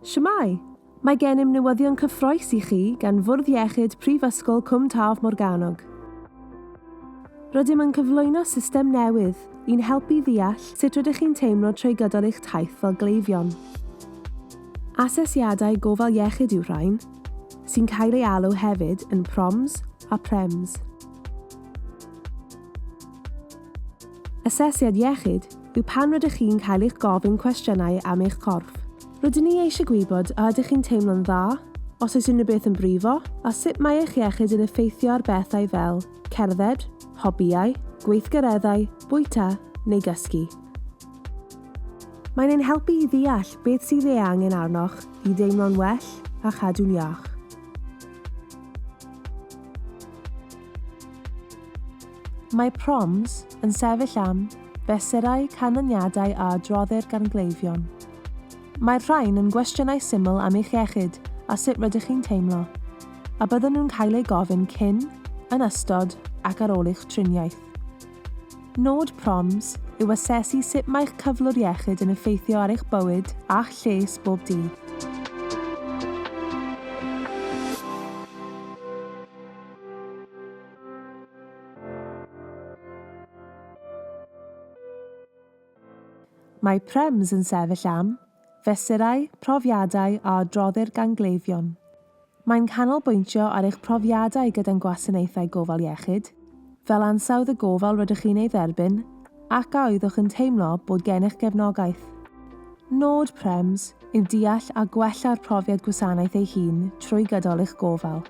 Shwmae! Mae gennym newyddion cyffroes i chi gan Fwrdd Iechyd Prifysgol Cwm Taf Morgannwg. Rydym yn cyflwyno system newydd i'n helpu ddeall sut rydych chi'n teimlo trwy gydol eich taith fel gleifion. Asesiadau gofal iechyd yw rhain, sy'n cael ei alw hefyd yn PROMs a PREMs. Asesiad iechyd yw pan rydych chi'n cael eich gofyn cwestiynau am eich corff. Rydyn ni eisiau gwybod a ydych chi'n teimlo'n dda, os oes unrhyw beth yn brifo, a sut mae eich iechyd yn effeithio ar bethau fel cerdded, hobïau, gweithgareddau, bwyta, neu gysgu. Mae'n ein helpu i ddeall beth sydd ei angen arnoch i ddeimlo'n well a chadw'n iach. Mae Proms yn sefyll am fesurau canlyniadau a adroddir gan gleifion. Mae'r rhain yn gwestiynau syml am eich iechyd a sut rydych chi'n teimlo, a bydden nhw'n cael eu gofyn cyn, yn ystod ac ar ôl eich triniaeth. Nod Proms yw asesu sut mae'ch cyflwr iechyd yn effeithio ar eich bywyd a'ch lles bob dydd. Mae PREMS yn sefyll am, fesurau, profiadau a adroddir gan gleifion. Mae'n canolbwyntio ar eich profiadau gyda'n gwasanaethau gofal iechyd, fel ansawdd y gofal rydych chi'n ei dderbyn ac a oeddwch yn teimlo bod gennych gefnogaeth. Nod PREMS yw deall a gwella'r profiad gwasanaeth ei hun trwy gydol eich gofal.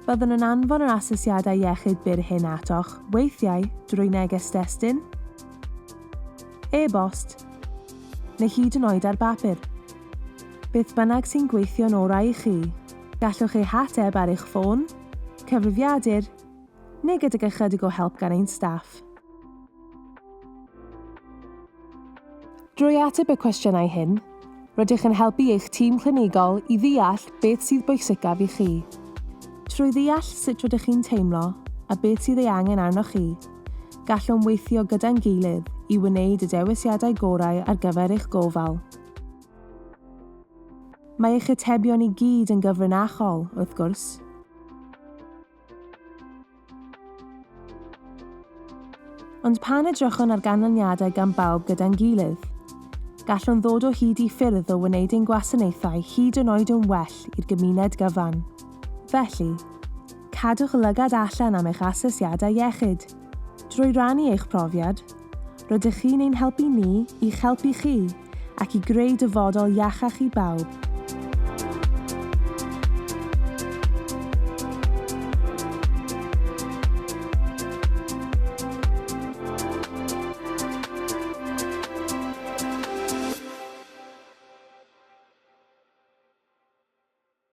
Byddwn yn anfon yr asesiadau iechyd byr hyn atoch, weithiau drwy neges destun, e-bost, neu hyd yn oed ar bapur. Beth bynnag sy'n gweithio'n orau i chi, gallwch eu hateb ar eich ffôn, cyfrifiadur, neu gydag ychydig o help gan ein staff. Drwy ateb y cwestiynau hyn, rydych yn helpu eich tîm clinigol i ddeall beth sydd bwysicaf i chi. Trwy ddeall sut rydych chi'n teimlo a beth sydd ei angen arnoch chi, Gallwn weithio gyda'n gilydd i wneud y dewisiadau gorau ar gyfer eich gofal. Mae eich atebion i gyd yn gyfrinachol, wrth gwrs. Ond pan edrychwn ar ganlyniadau gan bawb gyda'n gilydd, gallwn ddod o hyd i ffyrdd o wneud ein gwasanaethau hyd yn oed yn well i'r gymuned gyfan. Felly, Cadwch lygad allan am eich asesiadau iechyd. Drwy rannu eich profiad, rydych chi'n ein helpu ni i'ch helpu chi ac i greu dyfodol iachach i bawb.